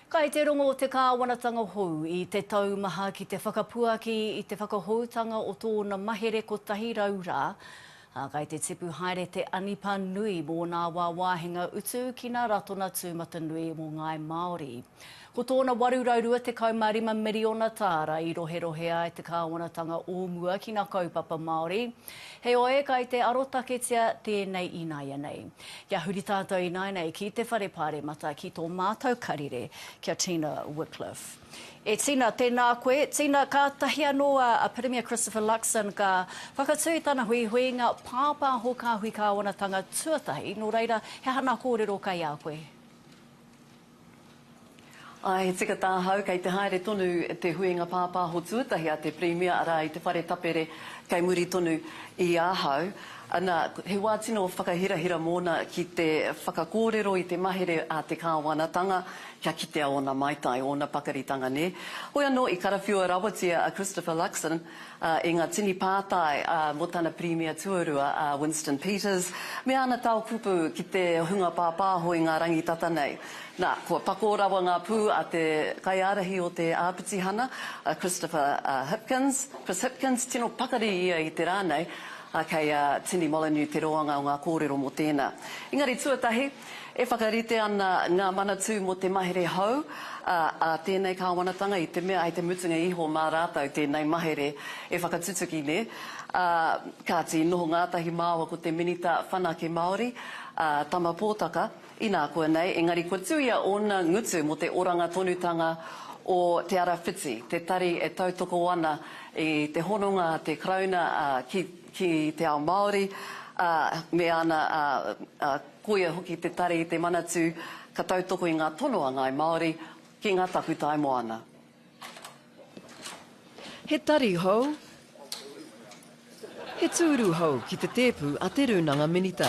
Kai te rongo te kāwanatanga hou i te taumaha ki te whakapuaki i te whakahoutanga o tōna mahere kotahi rau rā, ā, kai te tipu haere te anipa nui mō nā wāwāhinga utu ki nā Ratona Tūmatanui mō Ngāi Māori. Ko tōna 825 miriona tāra i roherohe ai te kāwanatanga o mua ki nā kaupapa Māori, Heoi, kai te arotaketia tēnei ināianei. Kia huri tātou ināianei ki te Whare Pāremata ki tō mātou karere, ki a Tina Wickliffe. E Tina, tēnā koe. Tina, kātahi anō a Pirimia Christopher Luxon ka whakatū i tana huihuinga pāpāho kāhui kāwanatanga tuatahi, nō reira, he hana kōrero kai a koe? Āe, he tika tāhau, kei te haere tonu te huinga pāpāho tuatahi a te Pirimia, arā, i te Whare Tapere, kei muri tonu i ahau. Nā, he wā tino whakahirahira mōna ki te whakakōrero i te mahere a te kāwanatanga, kia kitea ōna maitai, ōna pakaritanga, nē. Hoi anō, i karawhiua rawatia a Christopher Luxon, i ngā tini pātai mō tana Pirimia Tuarua a Winston Peters me ana tao kupu ki te hunga pāpāho i ngā rangitata nei. Nā, kua pakō rawa ngā pū a te kaiārahi o te āpitihana, a Christopher Hipkins, Chris Hipkins, tino pakari ia i te rā nei, ā, kei a Tini Molyneux te roanga o ngā kōrero mō tēnā. Engari tuatahi, E whakarite ana ngā Manatū mō te mahere hou a tēnei kāwanatanga i te mea hei te mutunga iho mā rātou tēnei mahere e whakatutuki nē. Kāti, noho ngātahi māua ko te Minita Whanake Māori, a Tama Pōtaka, inā koa nei, engari kua tuia ōna ngutu mō te oranga tonutanga o Te Ara Whiti, te tari e tautoko ana i te hononga a te Karauna ki ki te ao Māori, ā, me ana, ā, ā, koia hoki te tari i te Manatū ka tautoko i ngā tono a Ngāi Māori ki ngā takutai moana. He tari hou He tūru hou ki te tēpu a Te Rūnanga Minita.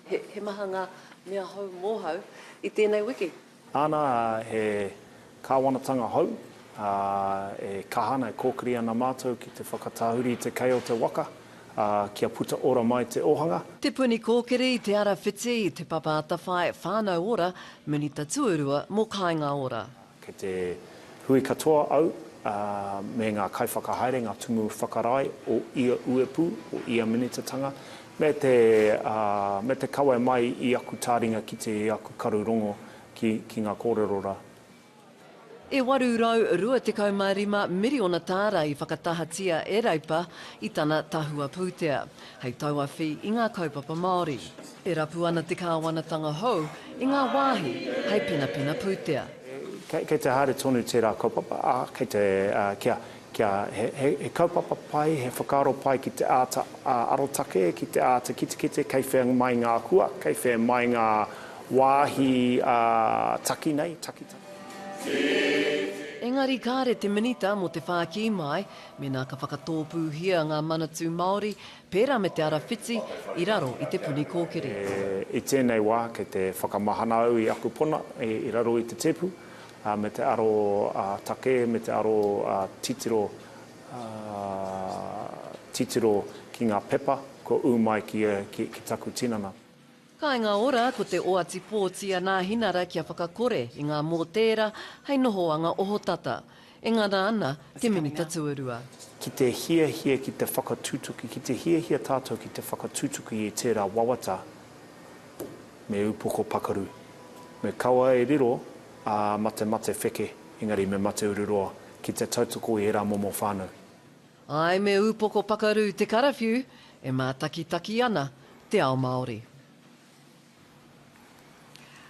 He maha ngā mea hou mōhau i tēnei wiki. Ana, he Kāwanatanga hou, ā, e kaha ana, e kōkiri ana mātou ki te whakatahuri i te kei o te waka, ā, kia puta ora mai te ōhanga. Te Puni Kōkiri i Te Arawhiti, Te Papa Atawhai, Whānau Ora, Minita Tuarua mō Kāinga Ora. Kei te. Hui katoa au, ā, me ngā kaiwhakahaere, ngā tumu whakarae o ia uepū, o ia minitatanga, me te, ā, me te kawe mai i aku tāringa ki te aku karu rongo ki, ki ngā kōrero rā. E 825 miriona tāra i whakatahatia e Reipa i tana tahua pūtea. hei tauawhi i ngā kaupapa Māori. E rapu ana te kāwanatanga hou i ngā wāhi hei penapena pūtea. Kei te haere tonu tērā kaupapa, ā, kei te, kia, kia, he, he kaupapa pai, he whakaaro pai ki te āta arotake, ki te āta kitekite kei whea mai ngā hua, kei whea mai ngā wāhi taki nei, takitaki. Engari kāre te Minita mō te whākī māi, Mēnā ka whakatōpūhia ngā Manatū Māori, pērā me te ara whiti, i raro i te puni kōkiri. I tēnei wā, kei te whakamahana au i aku pona i raro i te tēpu, me te aro takē, me te aro titiro, titiro ki ngā pepa kua ū mai ki taku tinana. Kāinga Ora, ko te oati pōti a Nāhinara kia whakakore i ngā mōtēra hei nohoanga ohotata. E ngana ana te Minita Tuarua. Ki te hiahia ki te whakatutuki, ki te hiahia tātou ki te whakatutuki i tērā wawata me upoko pakaru. Me kaua e riro, ā, matemate wheke, engari me mate ururoa ki te tautoko i ērā momo whānau. Āe me ūpoko pakaru te karawhiu e mātakitaki ana te ao Māori.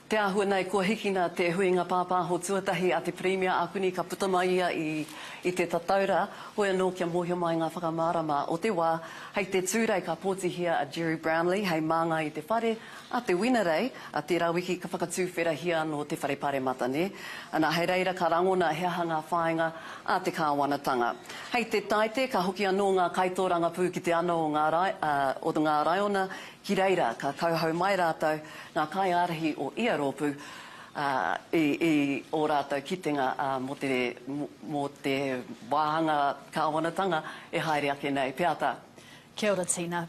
Te āhua nei kua hikina te huinga pāpāho tuatahi a te Pirimia Akuni ka puta mai ia i te Tataura, hoi anō kia mōhio mai ngā whakamārama o te wā. Hei te Tūrei ka pōtihia a Gerry Brownlee hei māngai i te whare A te Winerei, a tērā wiki ka whakatūwherahia anō te whare paremata, nē? Ana, hei reira ka rangona he aha ngā whāinga a te kāwanatanga. Hei te Taite, ka hoki anō ngā kaitōrangapū ki te ana o ngā, o ngā raiona ki reira ka kauhau mai rātou ngā kaiārahi o ia rōpū, ā, i, i ō rātou kitenga, ā, mō te, mō te wāhanga kāwanatanga e haere ake nei. Peata. Kia ora Tina.